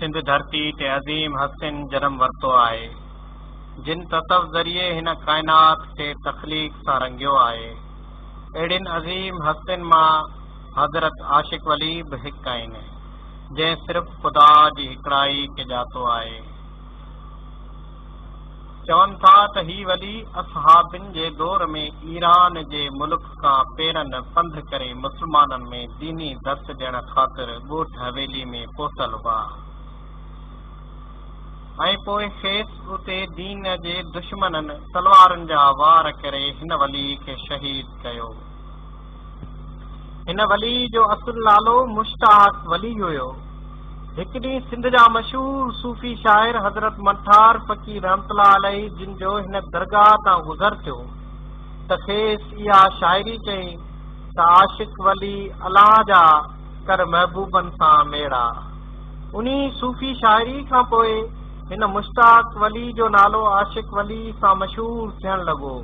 سنڌ ڌرتي تي عظيم هستين جنم ورتو آهي، جن تصوف ذريعي هن ڪائنات کي تخليق سان رنگيو آهي. اهڙين عظيم هستين مان حضرت عاشق ولي به هڪ آهن، جنهن صرف خدا جي هڪڙائي کي ڄاتو آهي. چون ٿا ته هي ولي اصحابين جي دور ۾ ايران جي ملڪ کان پيرن پنڌ ڪري مسلمانن ۾ ديني درس ڏيڻ خاطر ڳوٺ حويلي ۾ پهتل هئا ۽ پوء کيس اتي دين جي دشمنن تلوارن جا وار ڪري هن ولي کي شهيد ڪيو. هن ولي جو اصل نالو مشتاق ولي هيو. هڪ ڏينهن سنڌ جا مشهور صوفي شاعر حضرت منٺار فقير رحمت الله عليه جن جو هن درگاهه تان گذر ٿيو ته کيس اها شاعري چئي ته عاشق ولي الله جا ڪر محبوبن سان ميڙا. انهي صوفي شاعري کان پوء هن مشتاق ولي جو نالو عاشق ولي سان مشهور ٿيڻ لڳو.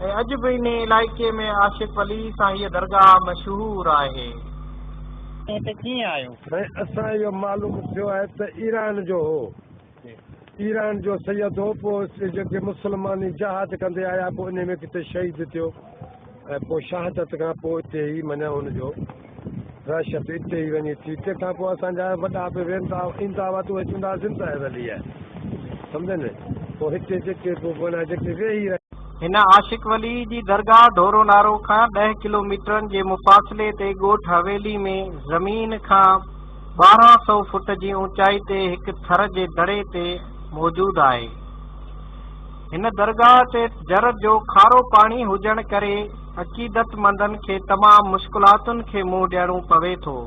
۽ اڄ به انهي علائقي ۾ عاشق علي سان هيء درگاهه مشهور آهي. تون هتي ڪيئن آيو؟ سائين اسان اهو معلوم ٿيو آهي ته ايران جو هو ايران جو سيد هو پوء جيڪي مسلماني جهاد ڪندي آيا پوء انهي ۾ ڪٿي شهيد ٿيو ۽ پوء شهادت کان پوء اتي ئي معنيٰ ان جو دهشت اتي ئي وڃي ٿي، تنهن کان پوء اسان جا وڏا به وين ٿا ۽ ايندا هئا ته اهي چوندا هئا زنده هي ولي هي سمجهيو نه پوء هتي جيڪي به بڻيا جيڪي ويهي رهيا. هن عاشق ولي جي درگاهه ڍورو نارو کان ڏهه ڪلوميٽرن جي مفاصلي تي ڳوٺ حويلي ۾ زمين کان ٻارهن سئو فوٽ جي اوچائي تي هڪ ٿر جي دڙي تي موجود آهي. هن درگاهه تي جر جو کارو پاڻي هجڻ ڪري عقيدتمندن کي تمام مشڪلاتن کي منهن ڏيڻو پوي ٿو.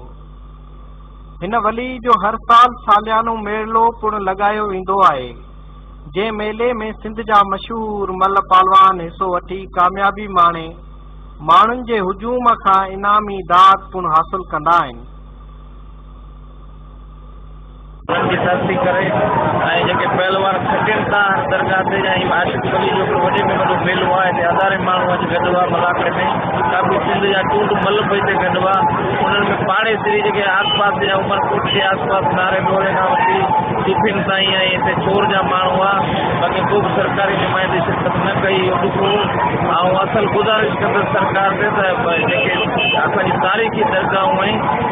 هن ولي جو هر سال ساليانو ميڙلو پڻ لڳايو ويندو آهي، جنهن ميلي ۾ سنڌ جا مشهور ملهه پالوان حصو وٺي ڪاميابي ماڻي ماڻهن جي هجوم کان انعامي داد پڻ حاصل ڪندا آهن. انهن جي ڌرتي ڪري ۽ جيڪي پهلوان کٽين ٿا هر درگاهه تي ۽ عاشق ولي جو هڪڙو وڏي ۾ وڏو ميلو آهي هتي هزارين ماڻهو اچ گڏ هئا ملاکڙي ۾ ڪافي سنڌ جا ٽونڊ مل به هتي گڏ هئا انهن ۾ پاڙيسري جيڪي آس پاس جا عمر ڪوٽ جي آس پاس ناري ڍوري کان وٺي صوفين تائين ۽ هتي ڇور جا ماڻهو هئا باقي ڪوبه سرڪاري نمائندي شرڪت نه ڪئي اهو ڏک هو آئون اصل گذارش ڪندس سرڪار تي ته جيڪي اسان جي تاريخي درگاهون ۽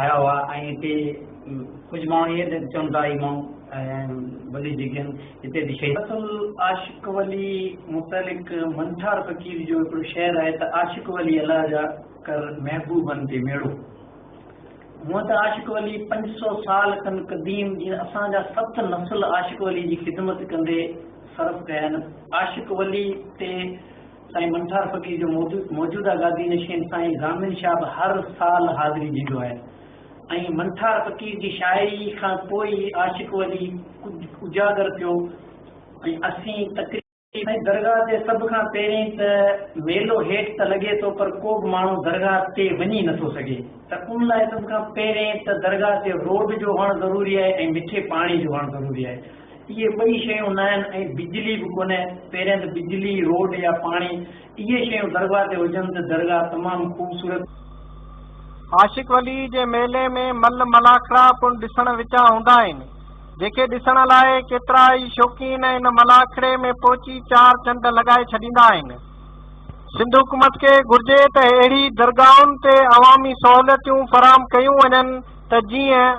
آيا هئا ۽ هتي ڪجهه ماڻهو ائين به چون ٿا هي ماڻهو وڏي جيڪن هتي به شهيد. اصل عاشق ولي متعلق منٺار فقير جو هڪڙو شعر آهي ته عاشق ولي الله جا ڪر محبوبن تي ميڙو هونئن ته عاشق ولي پنج سو سال کن قديم جيئن اسان جا ست نسل عاشق ولي جي خدمت ڪندي صرف ڪيا آهن عاشق ولي تي سائين منٺار فقير جو موجوده گادي نشين سائين ضامن شاهه به هر سال حاضري ڏيندو آهي ۽ منٺار فقير جي شاعري کان پوء ئي عاشق ولي اجاگر ٿيو ۽ اسين تقريب سائين درگاهه تي سڀ کان پهرين ته ميلو هيٺ ته لڳي ٿو پر ڪو به ماڻهو درگاهه تي وڃي نه ٿو سگهي ته ان لاء سڀ کان پهرين ته درگاهه تي روڊ جو هئڻ ضروري آهي ۽ مٺي پاڻي جو هئڻ ضروري آهي اهي ٻئي شيون ناهن ۽ بجلي به ڪونهي، پهريان ته بجلي، روڊ يا پاڻي، اهي شيون درگاهه تي هجن ته درگاهه تمام خوبصورت. عاشق ولي جي ميلي ۾ مل ملاکڙا پڻ ڏسڻ وچان هوندا آهن، جيڪي ڏسڻ لاء ڪيترا ئي شوقين ان ملاکڙي ۾ پهچي چار چنڊ لڳائي ڇڏيندا آهن. سنڌ حڪومت کي گهرجي ته اهڙي درگاهن تي عوامي سهولتيون فراهم ڪيون وڃن ته جيئن.